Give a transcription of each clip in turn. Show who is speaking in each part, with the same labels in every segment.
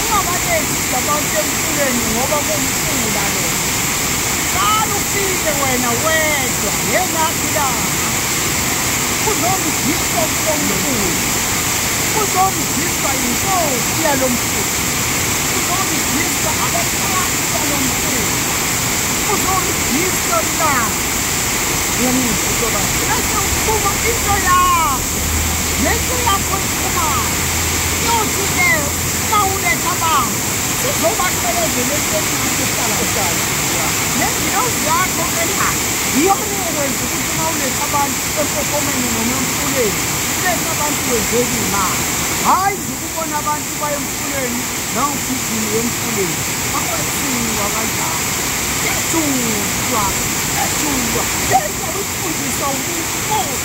Speaker 1: ungabaletisi abantu emfuleni ngoba kuwumfula lo qala ufike wena wedwa ngelakhi langa uzomdiswa kulomfula uzomdiswa yinkosi yalo mfula uzomdiswa abaphansi balo mfula uzomdiswa langa yemizobase bese uphuma into yakho Ngenxa yakho ikhumalo yothi ke uma uletha abantu sizobasebenzeleni encane ehlala ehlala nengilozi yakho ena iyona eyokwenza ukuthi uma uletha abantu empophomeni noma emfuleni uletha abantu wenzeka imali hhayi nje ukubona abantu baye emfuleni nawugijini wemfuleni akwethulwa kanjalo ethulwa ethulwa yeyawifundiswa umuntu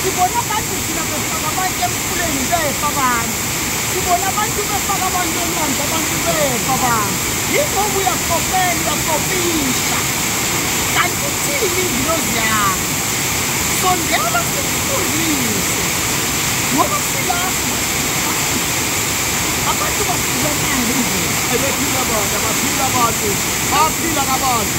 Speaker 1: Sibona abantu thina befaka abantu emfuleni befa abantu. Sibona abantu befaka abantu elwandle abantu befa abantu. Yingoba uyakopela uyakopisha. Kanti ithini ingilozi yakho? Sondela sikufundise. Ngoba silapho abantu basizanayo nje. Ebephila abantu,
Speaker 2: abaphila abantu, baphila kabantu.